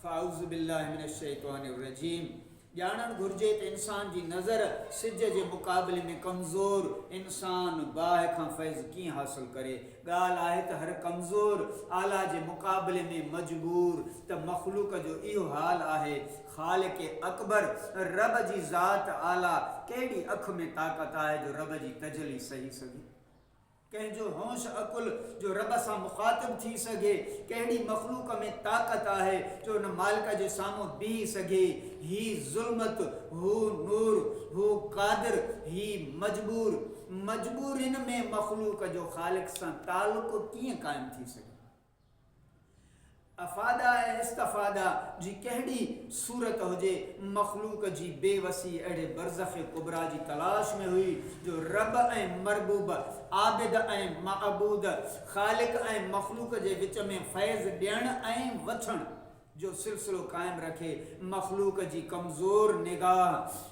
فاعوذ بالله من الشيطان الرجيم ڄاڻڻ گهرجي ته انسان جي نظر سج جي مقابلي ۾ ڪمزور انسان باهه کان فيض ڪيئن حاصل ڪري. ڳالهه آهي ته هر ڪمزور اعليٰ جي مقابلي ۾ مجبور ته مخلوق جو اهو حال آهي. خالق اڪبر رب جي ذات اعليٰ ڪهڙي اک ۾ طاقت آهي جو رب جي تجلي سهي سگهي. ڪنهن جو هوش عقل جو رب سان مخاطب ٿي سگهي، ڪهڙي مخلوق ۾ طاقت آهي جو ان مالڪ جي سامهون بيهي سگهي، هي ظلمت، هو نور، هو قادر، هي مجبور، مجبورين ۾ مخلوق جو خالق سان تعلق ڪيئن قائم ٿي سگهي؟ افاده ۽ استفاده جي ڪهڙي صورت هجي، مخلوق جي بي وسي اهڙي برزخ ڪبريٰ جي تلاش ۾ هئي جو رب ۽ مربوب، عابد ۽ معبود، خالق ۽ مخلوق جي وچ ۾ فيض ڏيڻ ۽ وٺڻ. جو سلسلو قائم رکي مخلوق جي ڪمزور نگاهه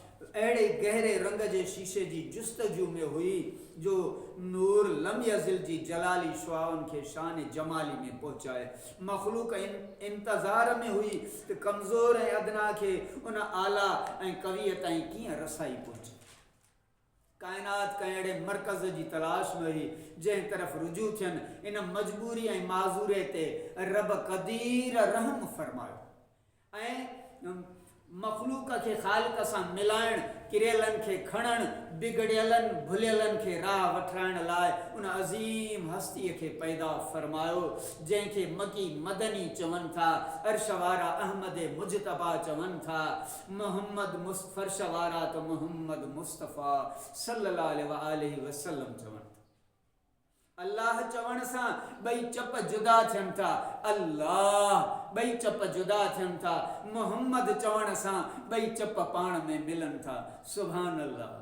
اهڙي گهري رنگ جي شيشي جي جستجو ۾ هئي جو نور لم يزل جي جلالي شعاعن کي شان جمالي ۾ پهچائي مخلوق ان انتظار ۾ هئي ته ڪمزور ۽ ادنيٰ کي ان اعليٰ ۽ قويء تائين ڪيئن رسائي پهچي. ڪائنات ڪنهن اهڙي مرڪز جي تلاش ۾ هئي، جنهن طرف رجوع ٿين، ان مجبوري ۽ معذوري تي رب قدير رحم فرمايو ۽ مخلوق کي خالق سان ملائڻ، ڪريلن کي کڻڻ، بگڙيلن ڀليلن کي راهه وٺرائڻ لاء ان عظيم هستيء کي پيدا فرمايو، جنهن کي مڪي مدني چون ٿا، عرش وارا احمد مجتبيٰ چون ٿا. محمد مص فرش وارا ته محمد مصطفيٰ صلّي الله عليه واٰله وسلّم چون ٿا. الله چوڻ سان ٻئي چپ جدا ٿين ٿا. الله ٻئي چپ جدا ٿين ٿا. محمد چوڻ سان ٻئي چپ پاڻ ۾ ملن ٿا. سبحان الله.